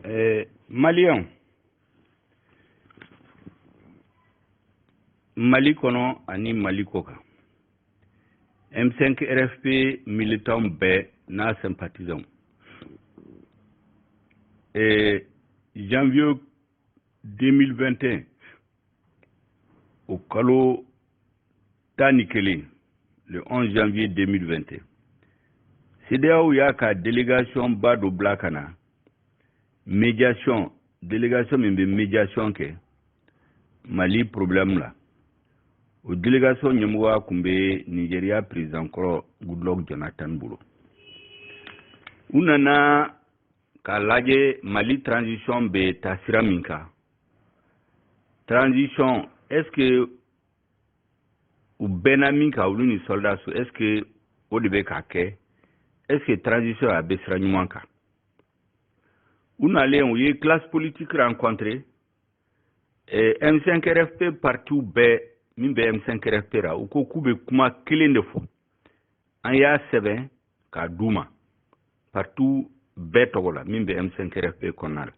eh, maliyɛnw mali kɔnɔ ani mali kɔ kan m5 rfp militanw bɛɛ n'a sympathisants eh, janvier 2021 o kalo tan ni kelen le 11 janvier 2021 CEDEAO y'a ka délégation ba dɔ bila ka na médiation délégation min bɛ médiation kɛ Mali problème la o délégation ɲɛmɔgɔya kun bɛ Nigeria président kɔrɔ Goodluck Jonathan bolo u nana k'a lajɛ Mali transition bɛ taa sira min kan transition est-ce que u bɛnna min kan olu ni sɔrɔdasiw est ce que o de bɛ ka kɛ est ce que transition a bɛ sira ɲuman kan u nalen u ye classe politique rencontre eh, M5 RFP partiw bɛɛ min bɛ M5 RFP ra u ko k'u bɛ kuma kelen de fɔ an y'a sɛbɛn k'a d'u ma partiw bɛɛ tɔgɔ la min bɛ M5 RFP kɔnɔna la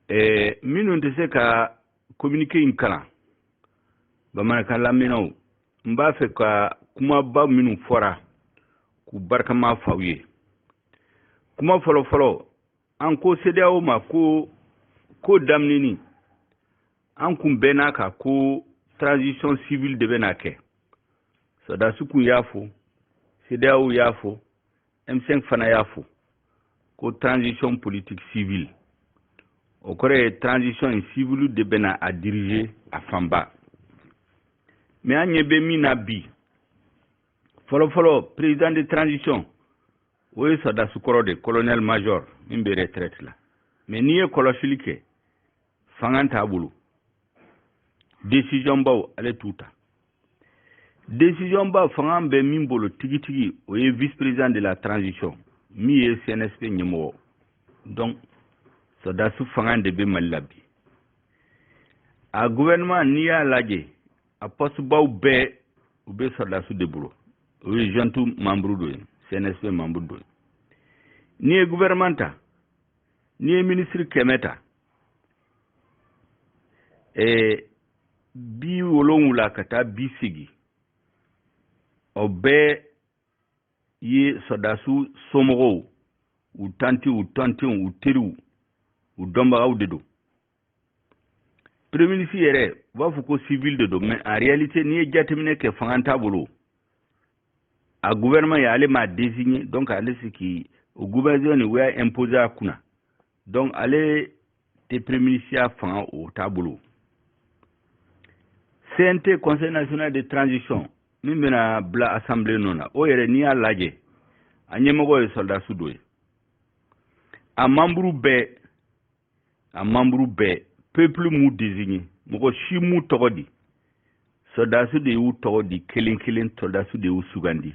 eh, minnu tɛ se ka communiqué in kalan bamanankan lamɛnnaw n b'a fɛ ka kumaba minnu fɔra k'u barikama f'aw ye kuma fɔlɔfɔlɔ an ko sedeyawo ma ko ko daminɛni an kun bɛnna a kan ko transition civile de bɛna kɛ sɔrɔdasiw kun y'a fɔ sedeyawo y'a fɔ M5 fana y'a fɔ ko transition politique civile o kɔrɔ ye transition in civilw de bɛna a diriger a fanba mais an ɲɛ bɛ min na bi fɔlɔfɔlɔ président de transition o ye sɔrɔdasi kɔrɔ de colonel major min bɛ retraite la mais n'i ye kɔlɔsili kɛ fanga t'a bolo décision baw ale t'u ta décision ba fanga bɛ min bolo tigitigi o ye vice président de la transition min ye cnsp ɲɛmɔgɔ donc sɔrɔdasi fanga de bɛ mali la bi a gouvernement n'i y'a lajɛ a pɔsibaw bɛɛ u bɛ sɔrɔdasiw de bolo o ye junte membre dɔ ye cnsp membre dɔ ye n'i ye gouvernement ta n'i ye ministre kɛmɛ ta eh, bi wolonwula ka taa bi segin o bɛɛ ye sɔdasiw somɔgɔw u tantiw u tɔntɔnw u teriw u dɔnbagaw de don pereminisi yɛrɛ u b'a fɔ ko sivili de don mais en réalité n'i ye jateminɛ kɛ fanga t'a bolo a gouvernement ye ale m'a désigné donc ale si k'i o gouvernement nin u y'a imposer a kunna donc ale tɛ pereminisiya fanga o t'a bolo cnt conseil national de transition min bɛna bila assemblée nɔ na o yɛrɛ n'i y'a lajɛ a ɲɛmɔgɔ ye sɔrɔdasi dɔ ye a manburu bɛɛ a manburu bɛɛ peuple m'u désigné mɔgɔ si m'u tɔgɔ di sɔrɔdasi de y'u tɔgɔ di kelen kelen sɔrɔdasi de y'u sugandi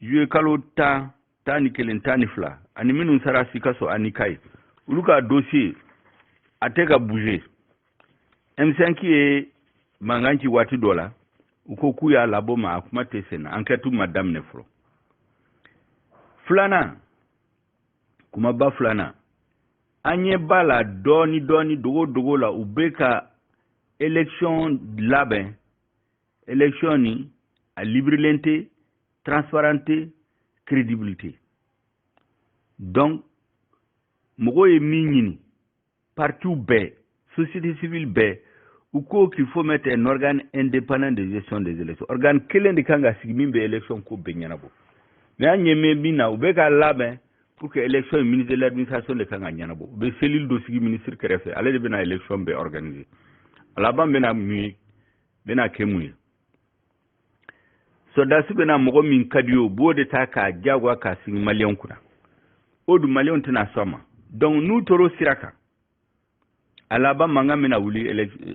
juye kalo tan tan ni kelen tan ni fila ani minnu sara sikaso ani kayi olu ka dosiye a tɛ ka bouger m5 ye mankan ci waati dɔ la u ko k'u y'a labɔ mais a kuma tɛ senna ankɛtu ma daminɛ fɔlɔ filanan kumaba filanan an ɲɛ b'a la dɔɔni dɔɔni dogo dogo la u bɛ ka election labɛn election nin a libirilen tɛ transparent tɛ crédible tɛ donc mɔgɔw ye min ɲini partiw bɛɛ société civile bɛɛ u ko qu'il faut mettre un organe indépendant de gestion des élections organe kelen de kan ka sigi min bɛ élection ko bɛɛ ɲɛnabɔ mais an ɲɛ bɛ min na u bɛ k'a labɛn pour que élection ye ministre de l'administration de kan k'a ɲɛnabɔ u bɛ cellule dɔ sigi ministre kɛrɛfɛ ale de bɛna élection bɛɛ organiser a laban bɛna mun ye bɛna kɛ mun ye sɔrɔdasi bɛna mɔgɔ min ka di u ye u b'o de ta k'a diyagoya k'a sigi maliyɛnw kunna o dun maliyɛnw tɛna sɔn a ma donc n'u tor'o sira kan a laban mankan bɛna wuli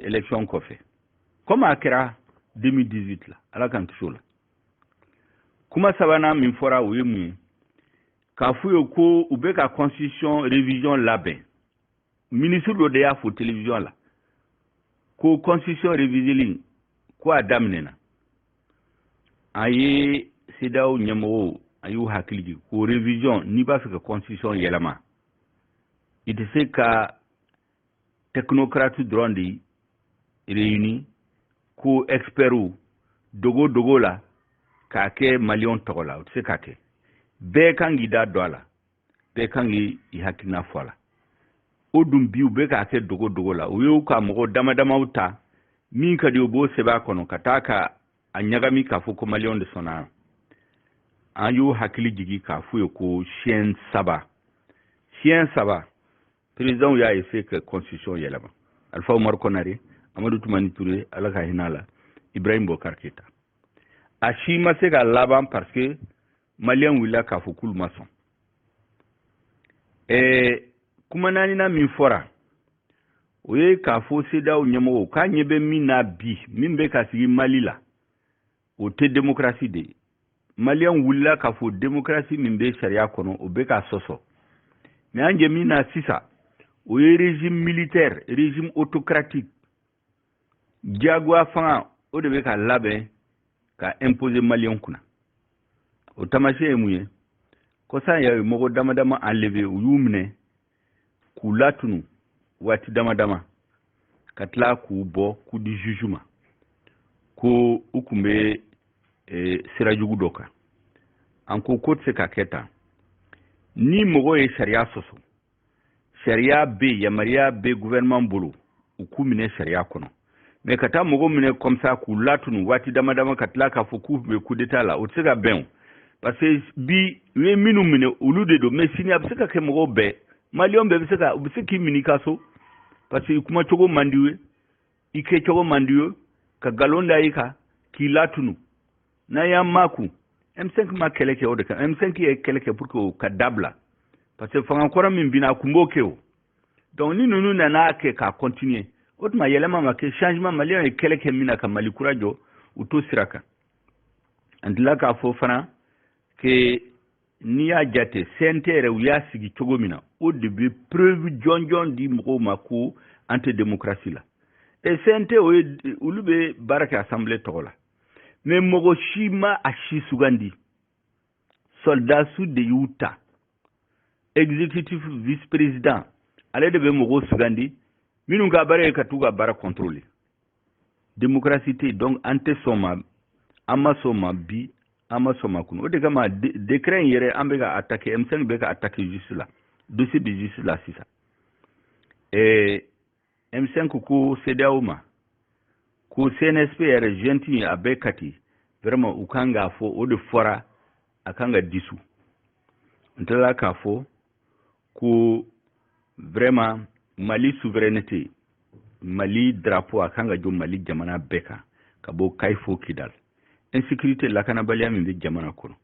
election kɔfɛ komi a kɛra 2018 la ala k'an kisi o la kuma sabanan min fɔra o ye mun ye k'a f'u ye ko u bɛ ka constitution révision labɛn minisiri dɔ de y'a fɔ television la ko constitution reviseli ko a daminɛna an ye cedeao ɲɛmɔgɔw an y'u hakili jigin ko revision n'i b'a fɛ ka constitution yɛlɛma i tɛ se ka technocrate dɔrɔn de réuni ko expertw dogo dogo la k'a kɛ maliyɛnw tɔgɔ la o tɛ se ka kɛ bɛɛ kan k'i da don a la bɛɛ kan k'i hakilina fɔ a la o dun bi u bɛ k'a kɛ dogo dogo la u y'u ka mɔgɔ dama damaw ta min ka di u b'o sɛbɛn a kɔnɔ ka taa a ɲagami k'a fɔ ko maliyɛnw de sɔnna an y'u hakili jigi k'a f'u ye ko siyɛn saba siyɛn saba perezidɛnw y'a eseye ka constitution yɛlɛma alifa umaru kɔnare amadu tumani ture ala ka hinɛ a la ibrahim bubakar keyita a si ma se k'a laban parce que maliyɛnw wulila k'a fɔ k'olu ma sɔn ɛɛ kuma naaninan min fɔra o ye k'a fɔ CEDEAO ɲɛmɔgɔw k'an ɲɛ bɛ min na bi min bɛ ka sigi mali la o tɛ demokarasi de ye maliyɛnw wulila k'a fɔ demokarasi min bɛ sariya kɔnɔ o bɛ ka sɔsɔ mɛ an jɛ min na sisan o ye régime militaire régime autocratique diyagoya fanga o de bɛ ka labɛn ka imposer maliyɛnw kunna o taamasiyɛn ye mun ye kɔsa in yɛrɛ mɔgɔ dama dama enlever u y'u minɛ k'u latunu waati dama dama ka tila k'u bɔ k'u di juge ma ko u tun bɛ eh, sira jugu dɔ kan an ko ko tɛ se ka kɛ tan ni mɔgɔ ye sariya sɔsɔ sariya bɛ yen yamaruya bɛ gouvernement bolo u k'u minɛ sariya kɔnɔ mɛ ka taa mɔgɔ minɛ comme ça k'u latunu waati dama dama ka tila k'a fɔ k'u bɛ kudeta la o tɛ se ka bɛn o parce que bi u ye minnu minɛ olu de don mɛ sini a bɛ se ka kɛ mɔgɔw bɛɛ maliyɛn bɛɛ bɛ se ka u bɛ se k'i minɛ i ka so parce que i kuma cogo man d'u ye i kɛ cogo man d'u ye ka galon da i kan k'i latunu n'an y'an makun m5 ma kɛlɛ kɛ o de kan m5 ye kɛlɛ kɛ pour que o ka dabila parce que fanga kɔrɔ min binna a kun b'o kɛ o donc ni ninnu nana a kɛ k'a continuer o tuma yɛlɛma ma kɛ changement maliyɛnw ye kɛlɛ kɛ min na ka mali kura jɔ u t'o sira kan an tila k'a fɔ fana que n'i y'a jate CNT yɛrɛ u y'a sigi cogo min na o de bɛ preuve jɔnjɔn di mɔgɔw ma ko an tɛ démocratie la et CNT o ye olu bɛ baara kɛ assemblée tɔgɔ la mais mɔgɔ si ma a si sugandi sɔldasiw de y'u ta exécutif vice président ale de bɛ mɔgɔw sugandi minnu ka baara ye ka t'u ka baara contrôler démocratie tɛ yen donc an tɛ sɔn a ma an ma sɔn a ma bi an ma sɔn a ma kunu o de kama décret in yɛrɛ an bɛ k'a attaquer M5 bɛ k'a attaquer justice la dossier bɛ justice la sisan ɛɛ M5 ko CEDEAO ma ko CNSP yɛrɛ junte in a bɛ kati vraiment u kan k'a fɔ o de fɔra a kan ka dissous an tilala k'a fɔ ko vraiment mali souveraineté mali drapeau a kan ka jɔ mali jamana bɛɛ kan ka bɔ kayi fo kidal insécurité lakanabaliya min bɛ jamana kɔnɔ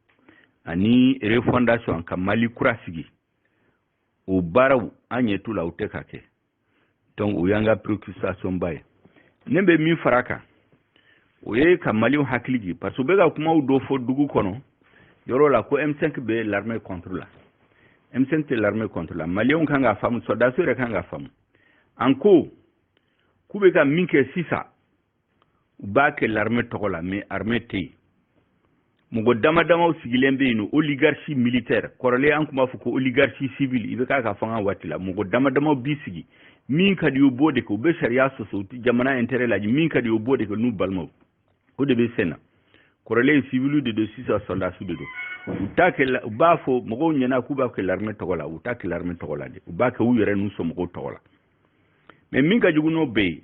ani refondation ka mali kura sigi o baaraw an ɲɛ t'u la u tɛ ka kɛ donc o y'an ka préoccupation ba ye ne bɛ min fara a kan o ye ka maliyɛnw hakili jigin parce que u bɛ ka kumaw dɔ fɔ dugu kɔnɔ yɔrɔ la ko m5 bɛ l'armée contre la m5 tɛ l'armée contre la maliyɛnw kan k'a faamu sɔrɔdasiw yɛrɛ kan k'a faamu an ko k'u bɛ ka min kɛ sisan u b'a kɛ larme tɔgɔ la mais arme tɛ yen mɔgɔ dama damaw sigilen bɛ yen une oligarchie militaire kɔrɔlen an tun b'a fɔ ko oligarchie civile IBK ka fanga waati la mɔgɔ dama damaw b'i sigi min ka d'u ye u b'o de kɛ u bɛ sariya sɔsɔ u tɛ jamana intérêt lajɛ min ka d'u ye u b'o de kɛ n'u balimaw o de bɛ sen na kɔrɔlen civile de don sisan sɔrɔdasiw de don u t'a kɛ u b'a fɔ mɔgɔw ɲɛna k'u b'a kɛ larme tɔgɔ la u t'a kɛ larme tɔgɔ la de u b'a kɛ u yɛrɛ n'u somɔgɔw tɔgɔ la mais min ka jugu n'o bɛɛ ye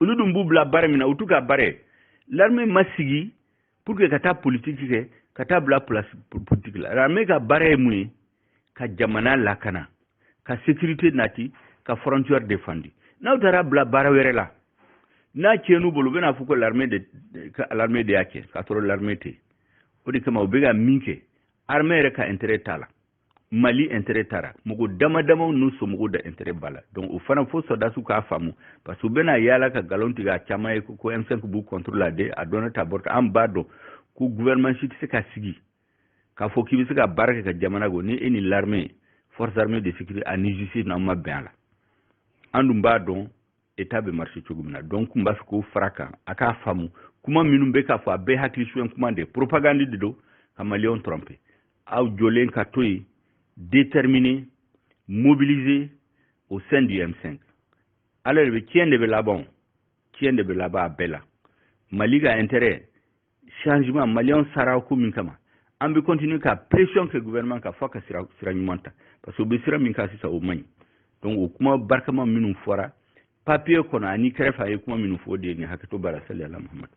olu dun b'u bila baara min na o t'u ka baara ye larme ma sigi pour que ka taa politiki kɛ ka taa bila politiki la larme ka baara ye mun ye ka jamana lakana ka sécurité nati ka frontière defandi n'a taara bila baara wɛrɛ la n'a tiɲɛn'u bolo u bɛna fɔ ko larme de ka larme de y'a kɛ k'a sɔrɔ larme tɛ o de kama u bɛ ka min kɛ armée yɛrɛ ka intérêt t'a la mali intérêt t'a la mɔgɔ dama damaw n'u somɔgɔw de intérêt b'a la donc o fana fo sɔrɔdasiw k'a faamu parce que u bɛna yaala ka galon tigɛ a caman ye ko m5 b'u contre la de a dɔnna ta bɔrɔta an b'a dɔn ko gouvernement si tɛ se ka sigi k'a fɔ k'i bɛ se ka baara kɛ ka jamana ko ni e ni l'armée force armée de sécurité ani justice n'an ma bɛn a la an dun b'a dɔn état bɛ marché cogo min na donc n b'a fɛ k'o fara kan a k'a faamu kuma minnu bɛ ka fɔ a bɛɛ hakili suɲɛ kuma de propagande de don ka maliyɛnw trompe aw jɔlen ka to yen déterminé mobilisé au sein du M5 ala de bɛ tiɲɛ de bɛ laban tiɲɛ de bɛ laban a bɛɛ la mali ka intérêt changement maliyɛnw sara ko min kama an bɛ continuer ka pression kɛ gouvernement kan fo ka sira sira ɲuman ta parce que u bɛ sira min kan sisan o man ɲi donc o kuma barikama minnu fɔra papier kɔnɔ ani kɛrɛfɛ an ye kuma minnu fɔ o de ye nin hakɛto b'a la saliyala mahamadu